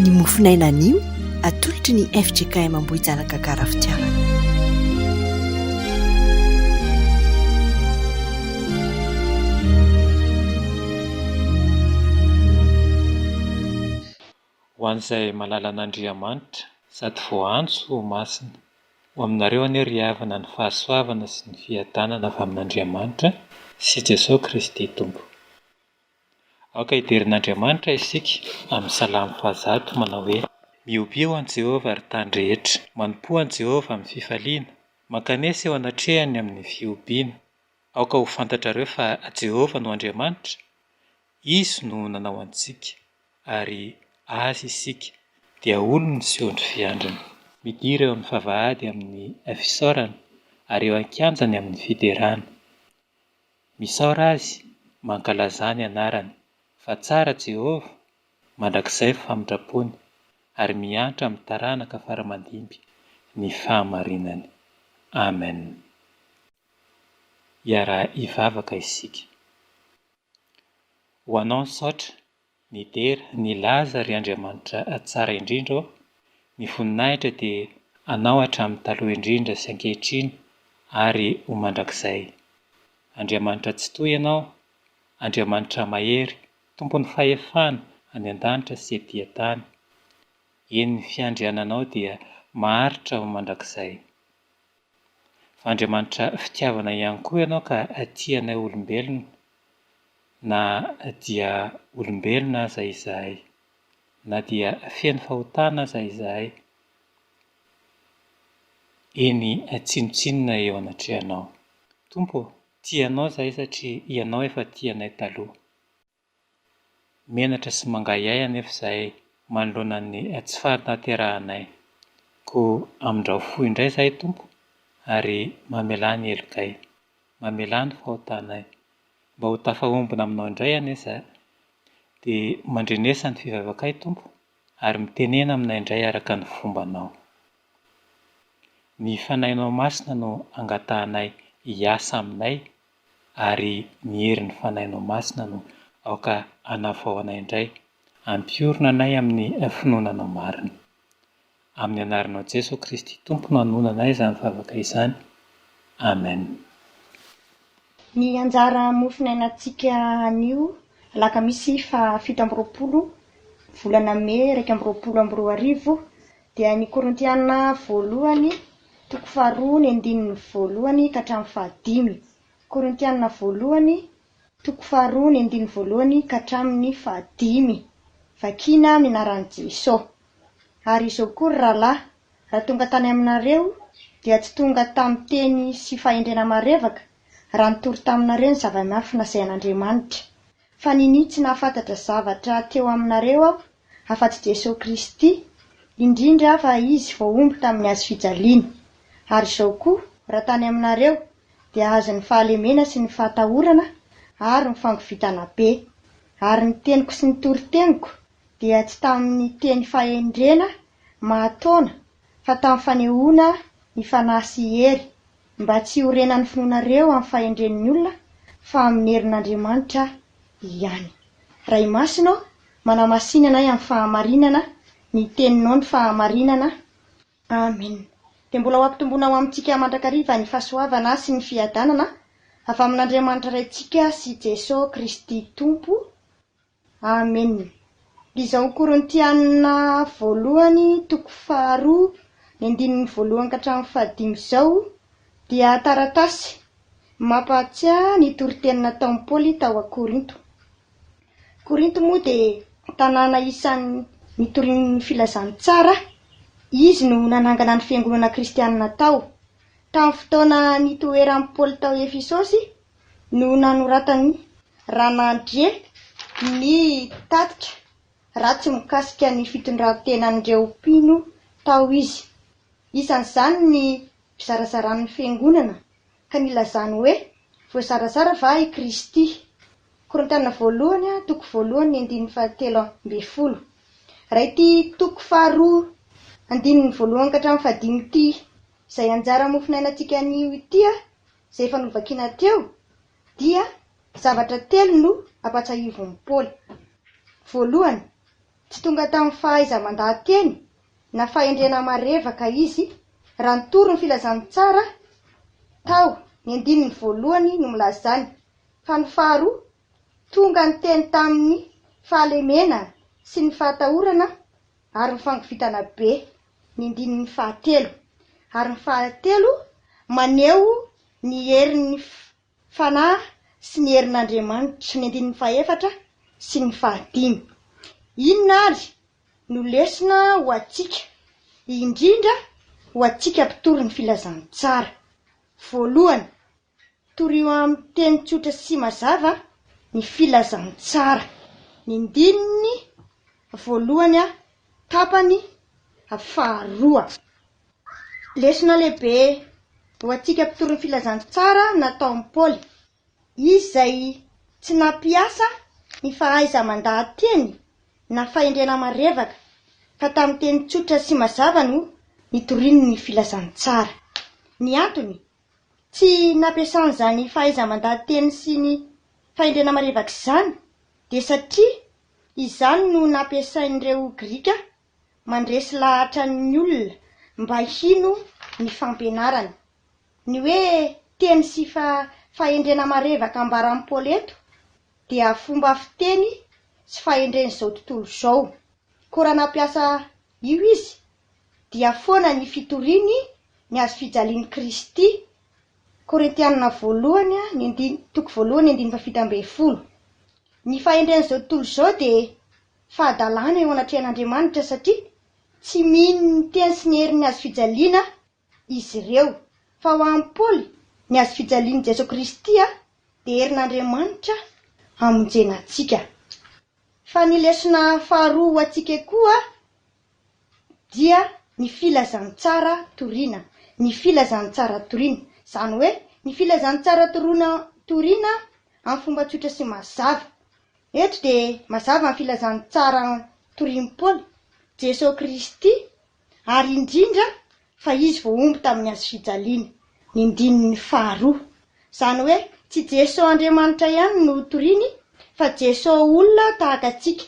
Ny mofon'aina anio atolotry ny fjkm Ambohijanaka Karafitiavana. Ho an'izay malala an'Andriamanitra. Sady voaantso ho masina. Ho aminareo anie ry havana ny fahasoavana sy ny fiadanana avy amin'Andriamanitra sy Jesoa Kristy Tompo. Aoka hiderin'Andriamanitra isika amin'ny salamo fahazato manao hoe. Mihobio an'i Jehovah, ry tany rehetra. Manompoa an'i Jehovah amin'ny fifaliana. Mankanesa eo anatrehany amin'ny fihobiana. Aoka ho fantatrareo fa Jehovah no Andriamanitra, izy no nanao antsika, ary azy isika, dia olony sy ondry fiandriny. Midira eo amin'ny vavahady amin'ny fisaorana, ary eo an-kianjany amin'ny fiderana. Misaora Azy, mankalazà ny Anarany, fa tsara Jehovah, mandrakizay ny famindram-pony, ary miantra amin'ny taranaka fara-mandimby ny fahamarinany. Amen. Iaraha-hivavaka isika. Ho Anao misaotra, Midera, Nilaza ry Andriamanitra Tsara indrindra ô, ny voninahitra dia Anao hatramin'ny taloha indrindra sy ankehitriny ary ho mandrakizay. Andriamanitra Tsitohy Ianao, Andriamanitra Mahery, Tompon'ny fahefana any an-danitra sy ety an-tany. Eny ny fiandriananao dia maharitra ho mandrakizay. fa Andriamanitra fitiavana ihany koa ianao ka tia anay olombelona na dia olombelona aza izahay, na dia feno fahotana aza izahay, eny tsinontsinona eo anatrehanao. Tompo ô, tia anao izahay satria ianao efa tia anay taloha. Menatra sy mangahiahy anefa izahay manoloana ny tsy fahatanterahanay. Koa amindrao fo indray izahay Tompo ary mamelà ny helokay. Mamelà ny fahotanay. Mba ho tafahombina aminao indray anie izahay. Dia mandrenesa ny fivavakay Tompo ary mitenena aminay indray araka ny fombanao. Ny Fanahinao Masina no angatahanay hiasa aminay ary ny herin'ny Fanahinao Masina no aoka hanavao anay indray, ampiorina anay amin'ny finoana Anao marina. Amin'ny Anaranao Jeso Kristy Tompo no hanoana anay izany vavaka izany. Amen. Ny anjara mofo niainantsika anio alakamisy faha fito amby roapolo volana mey iraika amby roapolo amby roa arivo Dia ny Korintiana voalohany toko faharoa ny andininy voalohany ka hatramin'ny fahadimy. Korintiana voalohany toko faharoa ny andininy voalohany ka hatramin'ny fahadimy. Vakiana minaran'i Jeso. Ary izao koa ry rahalahy, raha tonga tany aminareo, dia tsy tonga tamin'ny teny sy fahendrena marevaka, raha nitory taminareo ny zava-miafina izay an'Andriamanitra. Fa ninia tsy nahafantatra zavatra teo aminareo aho afa-tsy Jesoa Kristy, indrindra fa Izy voahombo tamin'ny hazo fijaliana. Ary izao koa, raha tany aminareo, dia azon'ny fahalemena sy ny fahatahorana ary ny fangovitana be. Ary ny teniko sy ny toriteniko dia tsy tamin'ny teny fahendrena mahataona, fa tamin'ny fanehoana ny fanahy sy hery, Mba tsy hiorenan'ny finoanareo amin'ny fahendren'ny olona fa amin'ny herin'Andriamanitra ihany. Ray i Masina ô, manamasìnana ahy amin'ny fahamarinana ny teninao ny fahamarinana. Amen. Dia mbola ho ampitomboina ho amintsika mandrakariva ny fahasoavana sy ny fiadanana avy amin'Andriamanitra Raintsika sy Jeso Kristy Tompo. Amen! Lzao Korintiana voalohany toko faharoa ny andininy voalohany ka hatramin'ny fahadimy izao dia taratasy mampahatsiahy ny toriteny nataon'i Paoly tao Korinto. Korinto moa dia tanàna isan'ny nitorian'ny filazantsara, izy no nanangana ny fiangonana kristianina tao. Tamin'ny fotoana nitoeran'i Paoly tao Efesosy no nanoratan'i Ranandriana ny tatitra ratsy mikasika ny fitondran-tenan'ireo mpino tao izy. Isan'izany ny fizarazarany ny Fiangonana ka nilazany hoe voazarazara va i Kristy? Korintiana voalohany toko voalohany ny andininy fahatelo ambin'ny folo. Raha ity toko faharoa andininy voalohany ka hatramin'ny fahadimy ity izay anjara mofonainantsika anio ity izay efa novakina teo, dia zavatra telo no ampahatsiahivin'i Paoly. Voalohany, tsy tonga tamin'ny fahaiza-mandaha-teny na fahendrena marevaka izy, raha ny torin'ny Filazantsara tao ny andininy voalohany no milaza izany, fa ny faharoa, Tonga niteny tamin'ny fahalemena sy ny fahatahorana ary ny fangovitana be ny ndininy fahatelo ary ny fahatelo maneho ny herin'ny Fanahy sy ny herin'Andriamanitra, ny andininy fahefatra sy ny fahadimy. Inona ary no lesona ho antsika, indrindra ho antsika mpitory ny Filazantsara? Voalohany, Torio amin'ny teny tsotra sy mazava ny filazantsara, ny ndininy voalohany tapany faharoa. Lesona lehibe ho antsika mpitory ny filazantsara nataon'i Paoly. Izy izay tsy nampiasa ny fahaiza-mandaha-teny na fahendrena marevaka, fa tamin'ny teny tsotra sy mazava no nitoriany ny filazantsara. Ny antony Tsy nampiasany izany fahaiza-mandady teny sy ny fahendrena marevaka izany dia satria izany no nampiasain'ireo Grika mandresy lahatra ny olona mba hino ny fampianarany. Ny hoe teny sy fahendrena marevaka ambaran'i Paoly eto dia fomba fiteny sy fahendren'izao tontolo izao. Koa raha nampiasa io izy dia foana ny fitoriany ny hazo fijalian'i Kristy, Korintiana voalohany ny andiny toko voalohany ny andininy fahafito ambin'ny folo. Ny fahendren'izao tontolo izao dia fahadalana eo anatrehan'Andriamanitra satria tsy mino ny teny sy ny herin'ny hazo fijaliana izy ireo, fa ho an'i Paoly, ny hazo fijalian'i Jesoa Kristy dia herin'Andriamanitra hamonjena antsika. Fa ny lesona faharoa ho antsika koa dia ny filazantsara toriana, ny filazantsara toriana, izany hoe ny filazantsara toroina toriana amin'ny fomba tsotra sy mazava. Eto dia mazava ny filazantsara torian'i Paoly, Jesoa Kristy ary indrindra fa izy vao omby tamin'ny hazo fijaliana, ny ndininy faharoa. Izany hoe tsy Jeso Andriamanitra ihany no toriany fa Jeso olona tahaka antsika,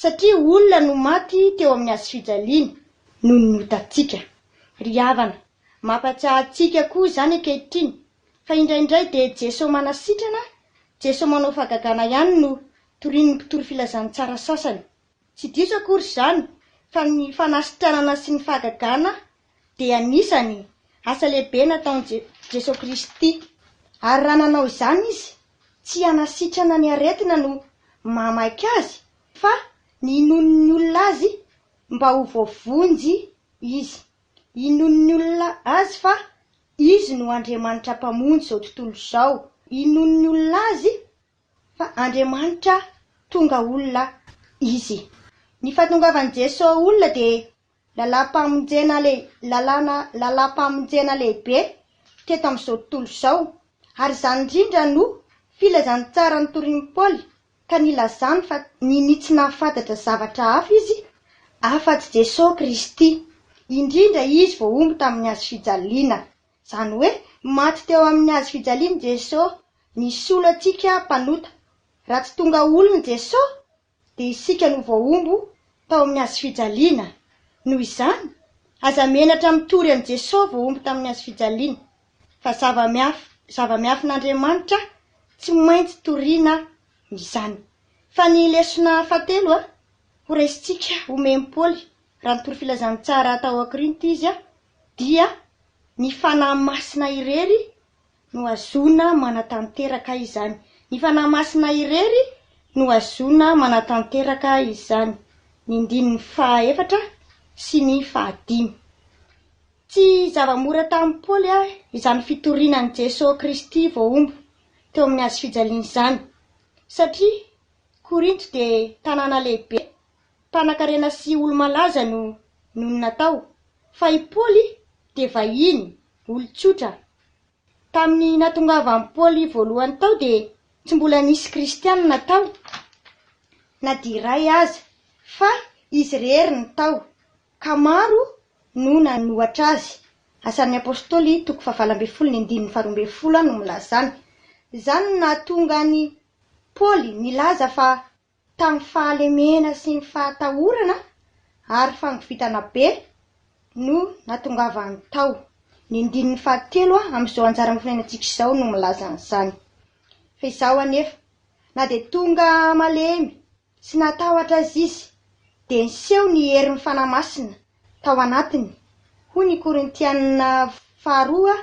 satria olona no maty teo amin'ny hazo fijaliana noho ny otantsika. Ry havana, mampatsiahy antsika koa izany ankehitriny fa indraindray dia Jeso manasitrana, Jeso manao fahagagana ihany no torian'ny mpitory filazantsara sasany. Tsy diso akory izany fa ny fanasitranana sy ny fahagagana dia anisany asa lehibe nataon'i Jesoa Kristy. Ary raha nanao izany Izy, tsy hanasitrana ny aretina no mahamaika Azy fa ny hinoan'ny olona Azy mba ho voavonjy Izy. Hinoan'ny olona Azy fa Izy no Andriamanitra Mpamonjy izao tontolo izao. Hinoan'ny olona Azy Fa Andriamanitra tonga olona Izy. Ny fahatongavan'i Jeso olona dia lalàm-pamonjena le, lalàna, lalàm-pamonjena lehibe teto amin'izao tontolo izao. Ary izany indrindra no filazantsara notorin'i Paoly ka nilazany fa nini tsy nahafantatra zavatra hafa izy afa-tsy Jeso Kristy. Indrindra Izy voahombo tamin'ny Hazo fijaliana. Izany hoe, maty teo amin'ny hazo fijaliany Jesoa, misolo antsika mpanota. Raha tsy tonga olony Jesoa, dia isika no voahombo tao amin'ny hazo fijaliana. Noho izany, aza menatra mitory an'i Jesoa voahombo tamin'ny hazo fijaliana. Fa zava-miafin'Andriamanitra tsy maintsy toriana izany. Fa ny lesona fahatelo horaisintsika, homen'i Paoly, raha nitory filazantsara tao Korinto izy, dia ny Fanahy Masina irery no hazoana manatanteraka izany. Ny Fanahy Masina irery no hazoana manatanteraka izany. Ny ndininy fahaefatra sy ny fahadimy. Tsy zava-mora tamin'i Paoly izany fitoriana an'i Jeso Kristy voahombo teo amin'ny hazofijaliana izany, satria Korinto dia tanàna lehibe Mpanakarena sy olo-malaza no nonina tao, fa i Paoly dia vahiny, olon-tsotra. Tamin'ny nahatongavan'i Paoly voalohany tao dia tsy mbola nisy Kristianina tao na dia iray aza, fa izy irery no tao, ka maro no nanohatra azy. Asan'ny Apostoly toko fahavalo ambin'ny folo ny andininy faharoa ambin'ny folo no milaza izany. Izany no nahatonga an'i Paoly nilaza fa. Tamin'ny fahalemena sy ny fahatahorana ary fangovitana be no natongavany tao. Ny andininy fahatelo amin'izao anjara mahafinenantsika izao no milaza an'izany. Fa izaho anefa, na dia tonga malemy sy natahotra aza izy, dia niseho ny herin'ny Fanahy Masina tao anatiny, hoy ny Korintiana faharoa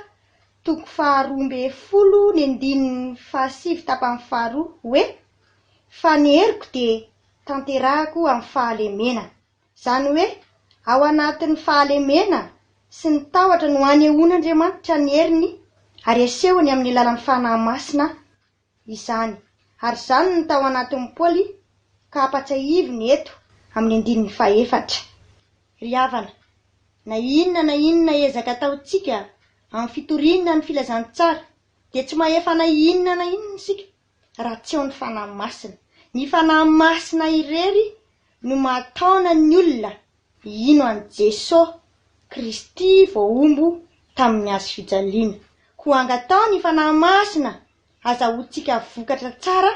toko faharoa ambin'ny folo ny andininy fahasivy tapany faharoa, hoe. Fa ny heriko dia tanterahako amin'ny fahalemena. Izany hoe, ao anatin'ny fahalemena sy ny tahotra no anehoan'Andriamanitra ny heriny ary asehony amin'ny alalan'ny Fanahy Masina izany. Ary izany no tao anatin'i Paoly ka ampatsahiviny eto amin'ny andininy fahefatra. Ry havana, na inona na inona ezaka ataontsika amin'ny fitoriana ny filazantsara dia tsy mahefa na inona na inona isika. raha tsy ao ny Fanahy Masina. Ny Fanahy Masina irery no mahataona ny olona hino an'i Jesosy Kristy voahombo tamin'ny Hazo fijaliana. Koa angataho ny Fanahy Masina hazahoantsika vokatra tsara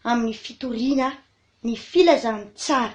amin'ny fitoriana ny filazantsara.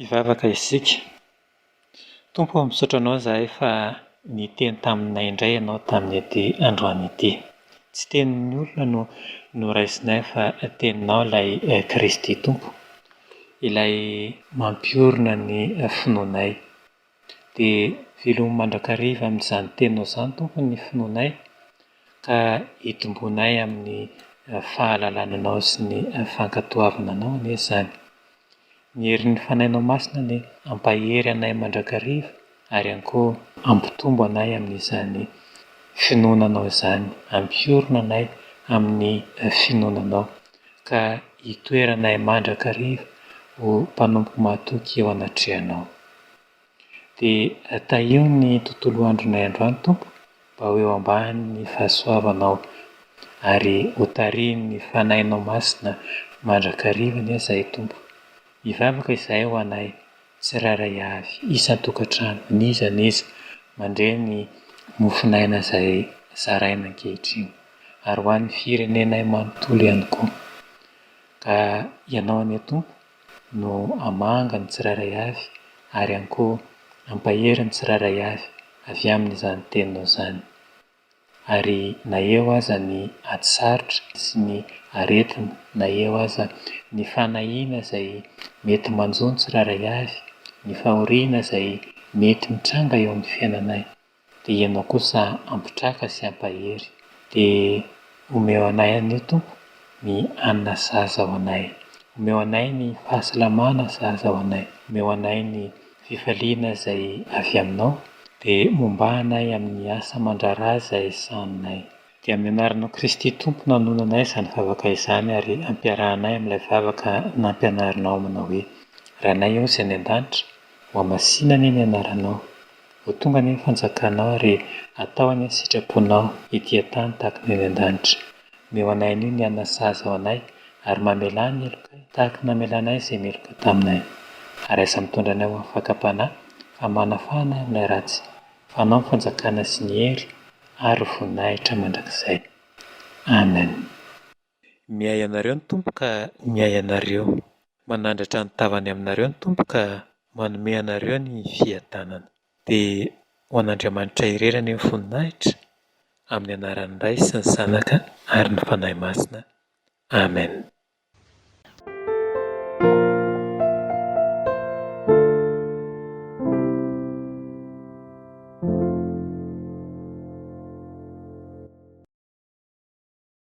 Hivavaka isika. Tompo ô, misaotra Anao izahay fa niteny taminay indray Ianao tamin'ity androany ity. Tsy tenin'ny olona no noraisinay fa Teninao ilay Kristy Tompo, ilay mampiorina ny finoanay. Dia velomy mandrakariva amin'izany Teninao izany, Tompo, ny finoanay, ka itomboanay amin'ny fahalalana Anao sy ny fankatoavana Anao anie izany. Ny herin'ny Fanahinao Masina anie hampahery anay mandrakariva ary ihany koa hampitombo anay amin'izany finoana Anao izany, hampiorina anay amin'ny finoana Anao. ka hitoeranay mandrakariva ho mpanompo mahatoky eo anatrehanao. Dia tahio ny tontolo andronay androany, Tompo, mba ho eo ambanin'ny fahasoavanao, ary ho tarihin'ny Fanahinao Masina mandrakariva anie izahay, Tompo. Mivavaka izahay ho anay tsirairay avy isan-tokantrano n'iza n'iza mandre ny mofon'aina izay zaraina ankehitriny, ary ho an'ny firenenay manontolo ihany koa. Ka Ianao anie Tompo no hamanga ny tsirairay avy ary ihany koa hampahery ny tsirairay avy avy amin'izany Teninao izany. Ary na eo aza ny ady sarotra sy ny aretina, na eo aza ny fanahiana izay mety manjo ny tsirairay avy, ny fahoriana izay mety mitranga eo amin'ny fiainanay, dia Ianao kosa hampitraka sy hampahery. Dia. Omeo anay anio Tompo ny hanina sahaza ho anay. Omeo anay ny fahasalamana sahaza ho anay. Omeo anay ny fifaliana izay avy Aminao, dia mombà anay amin'ny asa aman-draharaha izay sahaninay. Dia amin'ny anaran'i Kristy Tompo no anonanay izany vavaka izany ary ampiarahanay amin'ilay vavaka nampianarinao manao hoe, Ranay ao izay any an-danitra, hohamasinany ny anaranao. Vao tonga anie ny fanjakanao ary atao anie ny sitraponao ety an-tany tahaka ny any an-danitra. Omeo anay anio ny hanina sahaza ho anay ary mamelà ny helokay tahaka ny namelanay izay meloka taminay. Ary aza mitondra anay ho amin'ny fakam-panahy fa manafahana ahy amin'ilay ratsy, fa anao ny fanjakana sy ny hery ary ny voninahitra mandrakizay. Amen. Miahy anareo ny Tompo ka miahy anareo. Manandratra ny tavany aminareo ny Tompo ka manome anareo ny fiadanana. Dia ho an'Andriamanitra irery anie ny voninahitra, amin'ny anaran'ny Ray sy ny Zanaka ary ny Fanahy Masina. Amen.